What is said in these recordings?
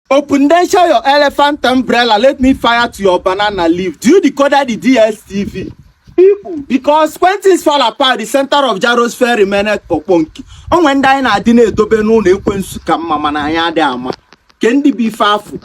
Opundensha your elephant umbrella, let me fire to your banana leaf. Do you decode the DSTV? People, because when things fall apart, the center of Jaro's fair remained Poponki. Onwe ndị anyị na-adị na-edobe n'ụlọ ekwensu ka mma mana anyị adị ama. Ke ndị bụ ife afụ.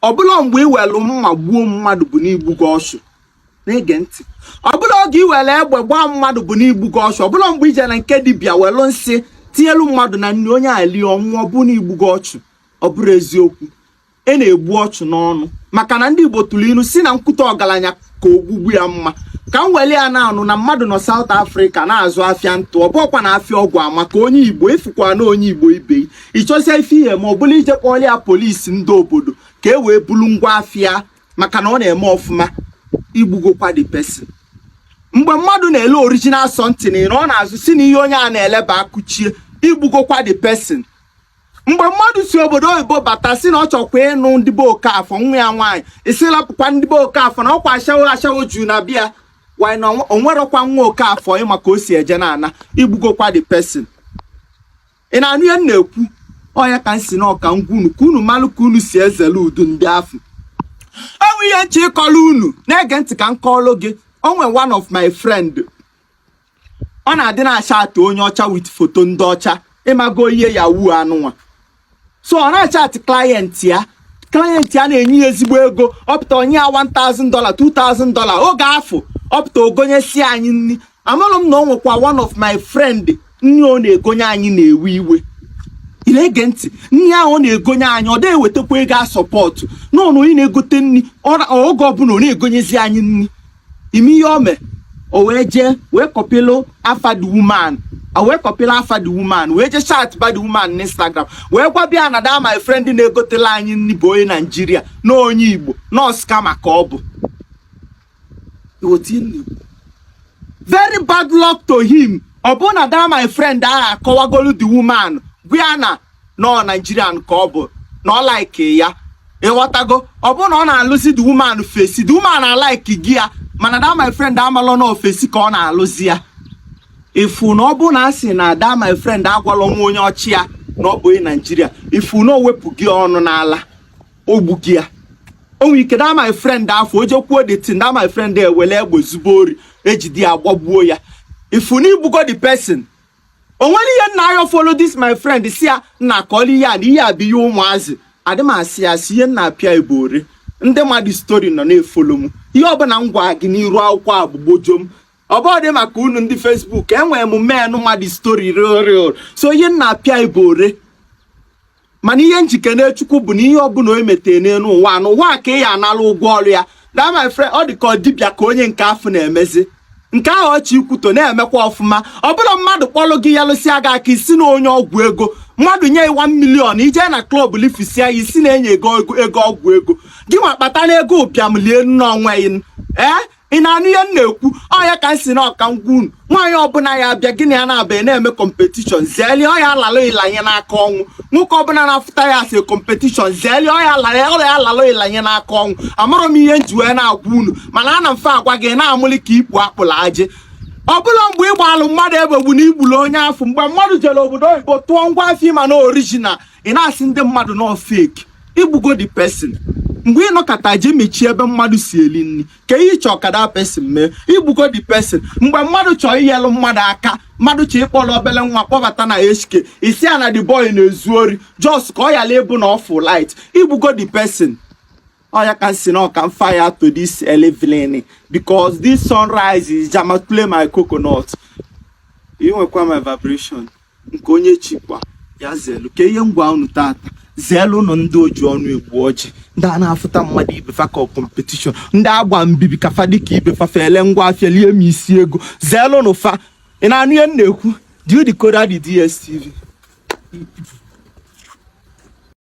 Ọ bụla mgbe iwelu mma gbuo mmadụ bụ n'igbugo ọchụ. na-ege ntị ọbụla oge i were egbe gbaa mmadụ bụ n'igbugo ọchụ ọbụla mgbe ije na nke dibịa welu nsị tinyelu mmadụ na nri onye a lie ọ nwụọ bụ n'igbugo ọchụ ọ bụrụ eziokwu e na-egbu ọchụ n'ọnụ maka na ndị Igbo tụrụ ilu si na nkwutọ ọgalanya ka ogbugbu ya mma ka m weli ya na-anụ na mmadụ nọ South Africa na-azụ afịa ntụ ọ bụkwa na afịa ọgwụ a maka onye Igbo ịfụkwa na onye Igbo ibe ịchọsịa ife ị ya-eme ọ bụlụ ije kpọọlụ ya police ndị obodo ka e wee bulu ngwa afịa maka na ọ na-eme ọfụma igbugokwa the person mgbe mmadụ na-ele original something ị nọ n'azụ sị na ihe onye a na-ele bụ akụchie igbugokwa the person mgbe mmadụ si obodo oyibo bata si na ọ chọkwa ịnụ ndị be Okafọ nwa ya nwaanyị ị sị lapụkwa ndị be Okafọ na ọkwa ashawo juu na be ya why na onwerọkwa nwa Okafọ ịma ka o si eje na ana igbugokwa the person ị na-anụ ihe m na-ekwu ọ ya ka m sị na ọ ka m gwa unu ka unu malụ ka unu si ezelu ụdị ndị afụ enwe ihe m chọ ịkọlụ unu na-ege ntị ka m kọọrọ gị onwe one of my friend ọ na-adị na-achat onye ọcha with foto ndị ọcha ịmago ihe yahoo anụnwa so ọ na-achat client ya client ya na-enye ya ezigbo ego ọ pụta o nye ya 1000 dola 2000 dola oge afụ ọ pụta o gonyesi anyị nri amarọ m na ọ nwekwa one of my friend nri ọ na-egonye anyị na-ewe iwe ị na-ege ntị nri ahụ ọ na-egonye anyị ọ da-ewetakwa ego asupport n'onye na-egote nri ọra- oge ọbụla ọ na-egonyezi anyị nri ị ma ihe o mee o wee jee wee kọpịlụ afa the woman o wee kọpịlụ afa the woman wee jee chatba the woman n'instagram wee gwaba ya na that my friend na-egotelụ anyị nri bụ onye naijiria na onye igbo na ọ scammer ka ọ bụ very bad luck to him ọ bụ na that my friend ahụ akọwagolu the woman gwa ya na ọ Nigerian ka ọ bụ na ọ like ya ịghọtago ọ bụrụ na ọ na-alụzi the woman face the woman alikego ya mana that my friend amalọ na ọ face ka ọ na-alụzi ya ifu na ọ bụ na a sị na that my friend agwalọ nwa onye ọcha ya na ọ bụ onye naijiria ifu na o wepụgo ya ọnụ n'ala o gbugo ya onwe ike that my friend afụ o je kwuo the thing that my friend ewele egbe zube ori e jide ya gbagbuo ya ifu na igbugo the person onwere ihe nna ayọ follow this my friend si ya nna akọla ihe a na ihe a bụ ihe ụmụazị adị m asị asị ihe m na-apịa ibu ori ndị mmadụ story nọ na-efolo m ihe ọbụla m gwa gị n'iru akwụkwọ a bụ gbojo m ọ bụghị maka unu ndị Facebook enwere m many mmadụ story real real so ihe m na-apịa ibu ori mana ihe m ji ekene chukwu bụ na ihe ọbụla onye metee n'elu ụwa n'ụwa ka ị ya anala ụgwọ ọrụ ya that my friend ọ dị ka dibịa ka onye nke afụ na-emezi nke ahụ ọ chọ ikwutọ na-emekwa ọfụma ọ bụla mmadụ kpọrọ gị yelụsịa gị aka ị sị na onye ọgwụ ego mmadụ nye ị one million i je na klọb lifisia ya ị sị na e nye gị ego ọgwụ ego gị nwa kpatanụ ego ụbịam lie n'onwe gị ee ị na-anụ ihe m na-ekwu ọ ya ka m sị na ọ ka m gwa unu nwaanyị ọbụla ya abịa gị na ya na-abịa na-eme kọmpetishọn zeeli ọ ya alalụ ị lanye n'aka ọnwụ nwoke ọbụla na-afụta ị as kọmpetishọn zeeli ọ ya alalụ ị lanye n'aka ọnwụ amarọ m ihe m ji wee na-agwa unu mana ana mfe agwa gị na-amụli ka ikpu akpụla ajị ọ bụrọ mgbe ị gbalụ mmadụ egbe bụ na i gbulu onye afụ mgbe mmadụ jere obodo oyibo tụọ ngwa afịa ị ma na orijinal ị na-asị ndị mmadụ na ọ fake igbugo the person mgbe ị nọkata je mechie ebe mmadụ si eli nri ka ihe chọọ ka that person mee igbugo the person mgbe mmadụ chọọ inyelụ mmadụ aka mmadụ chọọ ịkpọrọ obele nwa kpọbata na HK ị sị ya na the boy na-ezu ori just ka ọ yala ịbụ na ọ fụ light igbugo the person ọ ya ka m sị na ọ ka m fire to this early evening because this sunrise is jamatule my coconut i nwekwa my vibration nke onye chikwa ya zelu ka ihe m gwa unu tata zeelu nụ ndị o ji ọnụ egbu ọjị ndị a na-afụta mmadụ ibe fa ka kọmpetishọn ndị agba mbibi ka fa dịka ibe fa fele ngwa afịa lie m isi ego zeelu nụ fa ị na-anụ ihe m na-ekwu do you decode the DSTV